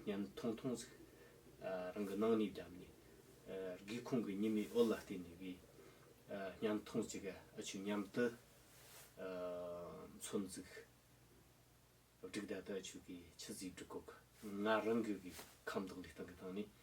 གཉན་མཐོང་མཐོང་ཟིག། རང་གི་སྣང་ནས་བརྒྱབ་ནས། སྒེའུ་ཁུང་གི་ཉི་མའི་འོད་ལ་བལྟས་ནས་གི། གཉན་མཐོང་ཟིག་ག་ཨ་ཆུ་མཉམ་དུ་མཚོན་ཟིག། བསྒྲིགས་ཟླ་དག་ཆུ་གི་ཆུ་ཟིག་བསྒྲིགས་གོ་གི། ང་རང་གི་གི་ཁམས་དང་ལུས་སྟེང་གི་སྟེང་ནས།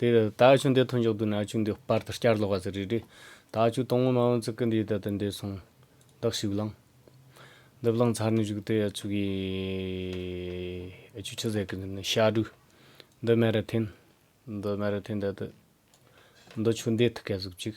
ད་ཆུ་འདི་ཐོན་ཆོག་དུས་ན་ཆུ་འདི་སྤར་དུ་བསྐྱར་ལོག་པ་ཟེར་རེད། ད་ཆུ་དང་བོ་མ་འོང་ཚེ་ཀི་འདི་ད་ལྟ་འདས་སོང། བདག་ཞིག་བླངས། འདི་བླངས་ཚར་ནས་བཞུགས་དེ་ཡ་ཆུ་གི། ཡ་ཆུ་ཆུ་ཟེར་གི་འདི་ནི་ཤ་དྲུག། འདི་སྨན་རི་འཐེན། འདི་སྨན་རི་འཐེན་ད་ལྟ། འདི་ཆུ་འདེད་ཐུག་ག་ཟུག་ཅིག།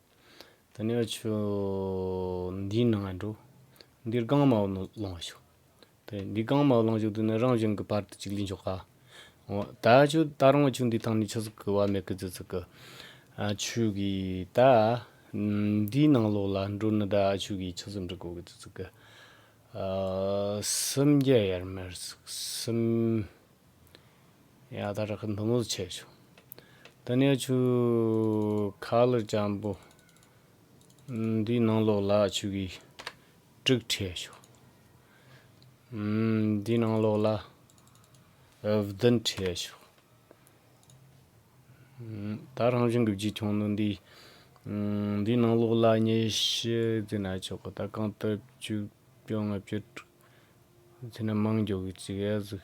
དང་ནི་ཆུ་འདིའི་ནང་ལ་འགྲོ། འདིར་རྐང་མ་བ་ལང་བ་ཞུགས། དེ་འདིའི་རྐང་མ་བ་ལང་བཞུགས་དུས་ན་རང་བཞིན་གྱི་བར་དུ་གཅིག་ལས་འཇོག་ག། འོ་ད་ཆུ་ད་རང་བ་ཆུ་འདིའི་ཐང་ནས་ཆུ་ཟིག་གི་བ་མེ་ཀི་ཙི་ཙི་ཀི། ཨ་ཆུ་གི་ད་འདིའི་ནང་ལོགས་ལ་འགྲོ་ནི་ད་ཨ་ཆུ་གི་ཆུ་ཟིག་འབྲི་གོ་ཀི་ཙི་ཙི་ཀི། སུམ་བརྒྱ་ཡར་མར་ཟིག་སུམ། ཡང་དག་རག་ནུ་མོ་ཆེ་ཆུང་དུ་ནས་ཆུ་ཁ་ལ་སྤྱང་པོ་འདུས་སྣང་ལོག་ལ་ཆུ་གི་དཀྲིགས་ཕྲད་ཤོག། འདུས་སྣང་ལོག་ལ་བདུན་ཕྲད་ཤོག། ད་རང་བྱུང་གི་བརྗིད་ཁྱུང་ནུ་འདིས་འདུས་སྣང་ལོག་ལ་ཉི་ཤུ་རྫི་ན་ཆོག་གི་ད་གང་ལྟར་བཅུ་བཅོ་ལྔ་བཅུ་དྲུག་རྫི་ན་མང་འགྱོ་གི་ཅི་ག་ཟིག།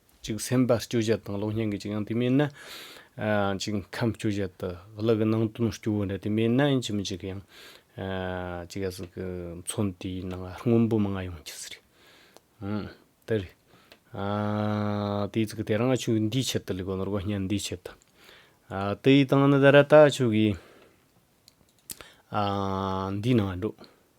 གཅིག་སེམས་པ་སྐྱོ་བཞད་དང་གློག་བརྙན་གྱི་གཅིག་ཡང་དེ་མེད་ན། གཅིག་ཁམས་སྐྱོ་བཞད་དུ་གློག་གི་ནང་དོན་སྐྱོ་བོ་འདྲ་དེ་མེད་ན་ཡིན་གཅིག་མི་གཅིག་ཡང། གཅིག་ག་ཟེར་གི་མཚོན་དེའི་ནང་སྔོན་པོ་མི་མངའ་ཡོང་གི་ཟེར། དེ་རེད། དེའི་ཚིག་དེ་རང་ཆོས་འདིའི་ཆེད་དུ་ལས་དགོས་ནོར་གོ་བརྙན་འདིའི་ཆེད་དུ། དེའི་སྟེང་ནས་ད་ར་ད་ཆོས་གིས། འདིའི་ནང་འགྲོ།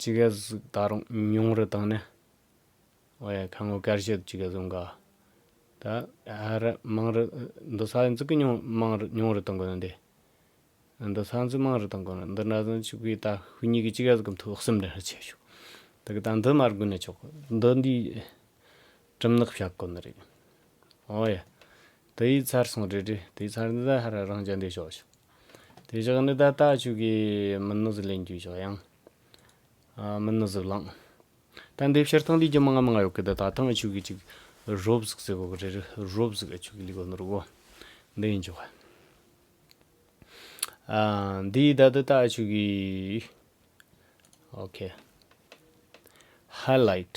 ཅི་ག་ཟིག་ད་རུང་ཉུང་རུ་བཏང་ནས་ཨོ་ཡ་ཁ་ངོ་དཀར་བཤད་དུ་ཅི་ག་ཟུང་ག་ད་ཨ་ར་མང་རུ་འདུ་ས་འཛུགས་ཀི་ཉུང་མང་རུ་ཉུང་རུ་གཏོང་དགོས་ན་འདི་འདུ་ས་འཛུགས་མང་རུ་གཏོང་དགོས་ན་འདི་འདྲ་ཟུང་ཅིག་པུས་ད་ཧུད་གཉིས་ཀྱི་ཅི་ག་ཟིག་གི་མཐུག་སེམས་འདྲ་འདྲ་བྱས་བྱུང་ད་གི་ད་འདི་མར་དགོས་ན་ཆོག་གི་འདི་འདིའི་གྲིམ་ནག་ཞྭ་དཀོན་ནི་རེད། ཨོ་ཡ། དེ་ཡིས་ཚར་སོང་རེད་རེད་དེ་ཚར་འདི་ད་ཧར་རང་རྐྱ་འདེད་ཤོག་ཤོག། དེ་བཞག་འདི་ད་ལྟ་ཆུ་གའི་མི་སྣུ་ཟི་ལེན་རྒྱུ་ཞོག་ཡང། མི་སྣུ་ཟི་བླང། ད་འདེབས་ཕྱིར་ཐང་ལུས་རྒྱུ་མ་ང་མ་ང་ཡོག་གི་ད་ད་ཐང་ཨ་ཆུ་གི་ཅིག་རོབ་ཟིག་ཟེ་གོ་གི་རེད་རེད་རོབ་ཟིག་ཨ་ཆུ་གི་ལི་གོ་ནི་རུ་གོ། འདི་ཡིན་ཆོག། ཨ། འདི་ཡིས་ད་འདི་ད་ཨ་ཆུ་གི། ཨོ་ཁེ། Highlight།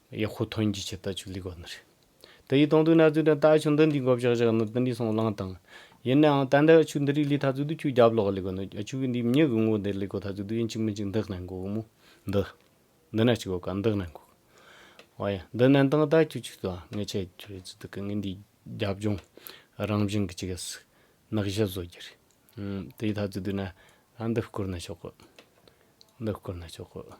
ཡག་ཧུ་ཐོན་གྱི་ཆེད་ལྟ་ཅུག་ལི་གོ་ནི་རེད། དེ་ཡིས་དང་དུ་ན་ཚུལ་དང་ལྟ་ཆུ་འདི་འདི་འགོ་བཞག་བཞག་ནི་དི་འདི་སོང་ལང་དང། ཡིན་ནའང་ད་འདི་ཆུ་འདི་རིགས་ལི་ཐ་ཚུལ་དུ་ཁྱུ་རྒྱབ་ལོག་ལི་གོ་ནི་ཆུ་གི་འདི་མྱི་གི་ངོ་འདི་ལི་གོ་ཐ་ཚུལ་དུ་ཡིན་གཅིག་མི་གཅིག་འདི་ནན་གོ་གི་མོ། འདི། འདི་ན་གཅིག་གོ་ག་འདི་ནན་གོ་གི། ཨོ་ཡ། འདི་ནན་དང་ལྟ་ཅུ་ཆུ་དང་ངེད་ཆེ་རྒྱུ་རེད་ཚུལ་དུ་གི་ངེད་འདི་རྒྱབ་ལྗོངས་རང་བཞིན་གི་ཅི་གི་སི། ནག་བཞི་བཟོ་རྒྱུ་རེད། དེའི་ཐ་ཚུལ་དུ་ན་ཨ་འདི་བསྐུར་ན་ཆོག་གི། འདི་བསྐུར་ན་ཆོག་གི།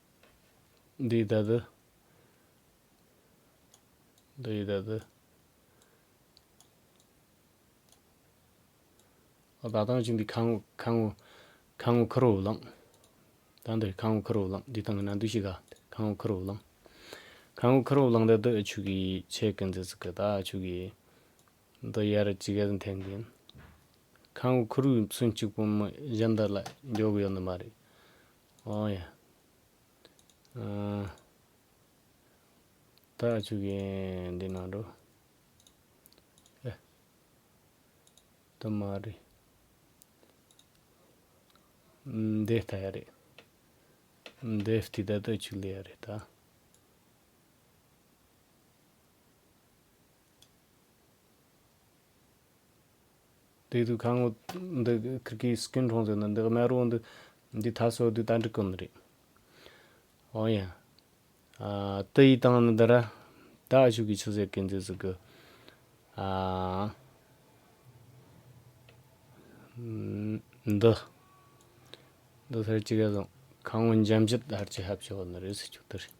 འདི་ད་དུ། འདི་ད་དུ། ད་ལྟ་ཅི་འདི་ཁ་ངོ་ཁ་ངོ་ཁ་ངོ་ཁུར་བོ་བླངས། ད་འདི་ཁ་ངོ་ཁུར་བོ་བླངས་འདི་དང་ན་འདུ་ཤི་ག་ཁ་ངོ་ཁུར་བོ་བླངས། ཁ་ངོ་ཁུར་བོ་བླངས་ད་དུ་ཆུ་གི་ཆེ་གི་འཛི་ཚུག་གི་ད་ཆུ་གི། འདི་ཡར་གཅིག་ག་ཚུན་འཐེན་གི་ཡིན། ཁ་ངོ་ཁུར་བོའི་ཚུན་གཅིག་པོ་མི་གཞན་དག་ལ་འཇོག་གི་ཡོད་ནི་མ་རེད། ཨོ་ཡ། ཨཱ། ད་ཆུ་གན་འདི་ནང་འགྲོ། ཨེ། དུ་མ་རེད། འདི་ལྟ་ཡ་རེད། འདི་ལྟའི་ད་ད་ཆུ་ལེ་ཡ་རེད་ད། དེ་དུས་ཁ་ངོ་འདི་ཁིར་གི་སི་ཀིན་གྲོང་ཚོའི་ནང་འདི་གནའ་རོ་འདི་འདི་ད་སོ་དུས་ད་འདྲི་ཀུན་རེད། ཨོ་ཡ། ཨ་ཏི་ཡི་ཏང་ནི་འདི་ར་ད་ཤུག་གི་ཆུ་ཟེ་ཀིན་ཛི་ཟི་གི། ཨ། འདི། འདི་སར་ཅི་ག་བཟང་ཁ་ངོ་འཇམ་བཞད་ད་ཧར་ཅི་ཧ་བྱོ་ནི་རེད་སི་ཆུག་ཏུ་རེད།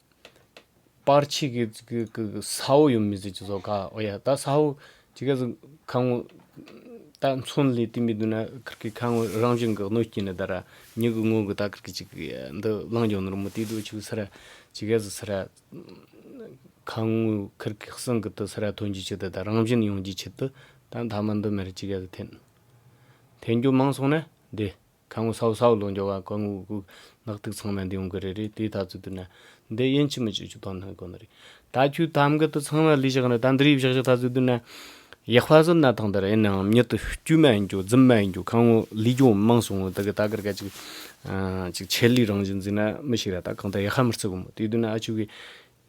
པར་ཆིག་གིས་ས་འོག་ཡོམ་མི་བཟོད་ཅིག་ཟོ་ཁ་ཨོ་ཡ་ད་ས་འོག་ཅིག་ག་ཟིག་ཁ་ངོ། ད་མཚོན་ལས་དེ་མི་འདུག་ན་ཁར་གི་ཁ་ངོ་རང་བྱུང་གི་གནོད་སྐྱིན་ནི་ད་ར་མྱུ་གུ་ངོ་གི་ད་ཁར་གི་ཅིག་གི་འདི་གླང་གྱོང་ནོར་མོ་དེ་དུ་ཆུག་ས་ར་ཅིག་ག་ཟིག་ས་ར། ཁ་ངོ་ཁར་གི་གསང་གི་དུ་ས་ར་ཐོན་རྒྱུ་ཆིག་དུ་ད་རང་བཞིན་ཡོང་རྒྱུ་ཆིག་དུ་ད་མཐའ་མ་འདི་མེར་ཅིག་ག་ཟིག་འཐེན། འཐེན་རྒྱུ་མང་སོང་ན་བདེ། ཁ་ངོ་སའོ་སའོ་ལོ་འགྱོ་བ་ཀ་ངུ་ཀུ་ཀུ་ནག་ཐིག་ཚང་མ་འདི་ཡོང་གི་རེད་རེད་དེའི་ཐག་ཚུད་དུ་ན་འདི་དབྱིན་ཇི་མི་ཅིག་ཅུ་ཐོ་ནང་གི་གོ་ན་རེད་ད་ཁྱོད་ཐ་མགུ་ཏུ་ཚང་མ་ལུས་བཞག་ན་ད་འདི་རིགས་བཞག་བཞག་ཐག་ཚུད་དུ་ན་ཡག་པ་བཟོ་ན་ཐང་དར་ཡིན་ནའང་མྱུར་ཏུ་དཀྱུས་མ་ཡིན་རྒྱུ་རྫུན་མ་ཡིན་རྒྱུ་ཁ་ངོ་ལུས་འགྱོ་མང་སོང་ངོ་ད་གི་ད་གར་ཀ་ཅིག་ཅིག་ཆེད་ལུས་རང་བཞིན་འཛིན་ན་མི་ཞིག་ར་ད་གང་ད་ཡག་ཧ་མི་རྩི་གོ་མོ་དེའི་དུས་ན་ཨ་ཆུ་གི་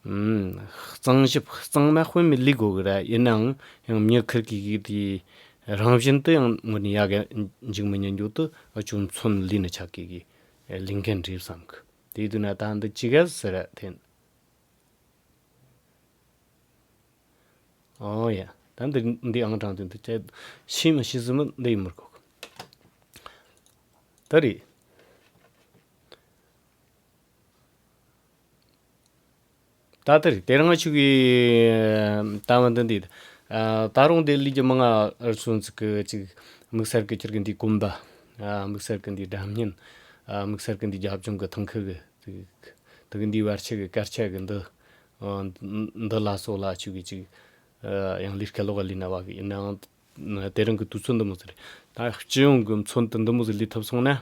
གཙང་ཞིབ་གཙང་མ་དཔོན་མི་ལེགས་དགོས་གི་རེད་ཡིན་ནའང་ཡང་མྱི་ཁིར་གི་གིས་དེ་རང་བཞིན་དུ་ཡང་ངོ་ནས་ཡག་གི་འཇིག་མི་ཉན་རྒྱུ་དུ་ཅུང་མཚོན་ལུས་ནི་ཆགས་གི་གིས་ལིང་མཁན་འགྲིབ་བསམ་གི་དེའི་དུས་ན་ད་འདི་ཅི་ག་ཟེ་རེད་དེ། ཨོ་ཡ། ད་འདི་འདི་ཨང་གྲངས་དེ་འདི་ཅད་ཤི་མི་ཤི་ཟིན་མི་འདི་ཡིན་མི་དགོས་གི། ད་རེད། ད་ལྟ་རི་སྟེང་རྔ་ཆུ་བའི་ལྟ་བ་འདི་འདུག། ད་རུང་བདེ་ལུགས་ཀྱི་མིག་སྔར་སོན་ཚུལ་གྱི་གཅིག། དམིགས་བསལ་གྱི་ཁྱེར་གྱི་འདིའི་གོམ་པ། དམིགས་བསལ་གྱི་འདིའི་སྒྲ་བརྙན། དམིགས་བསལ་གྱི་འདིའི་རྒྱབ་ལྗོངས་ཀྱི་ཐང་ཁུལ་གྱི་གཟུགས། དེ་གའི་འདིའི་བར་ཆད་ཀྱི་སྐར་ཆ་གི་འདི། འདི་ལ་སོགས་ལ་ཆོས་ཀྱི་གཅིག། ཡང་ལིར་ཁ་ལོ་ག་ལི་ན་བ་གི་ཡིན་ནའང། དེ་རང་གི་དུས་ཚོད་འདི་མོ་ཟིག་རེད། ད་སྤྱི་ཡོངས་ཀྱི་མཚོན་དུ་འདི་མོ་ཟིག་ལུས་ཐུབ་སོང་ན།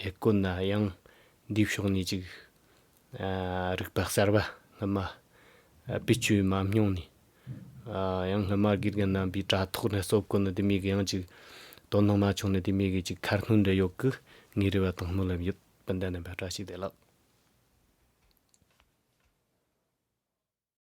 ཡིག་བཀོད་ན་ཡང་འདིའི་ཕྱོགས་ནས་ཅིག་རིག་པ་གསར་པ་སྔ་མ་པའི་བཅོས་མ་སྨྱོང་ནས་ཡང་སྔ་མ་དགེ་རྒན་རྣམ་པའི་དྲ་ཐོག་ནས་གསོ་བཀོད་ནི་དེ་མི་དགོས་ཡང་ཅིག་དོ་སྣང་མ་བྱུང་ནི་དེ་མི་དགོས་ཅིག་ཁར་སྣོན་འདྲ་ཡོད་ཀི་ངའི་རེ་བ་དང་སྨོན་ལམ་ཡོད་སྤུན་ཟླ་རྣམ་པ་བཀྲ་ཤིས་བདེ་ལགས།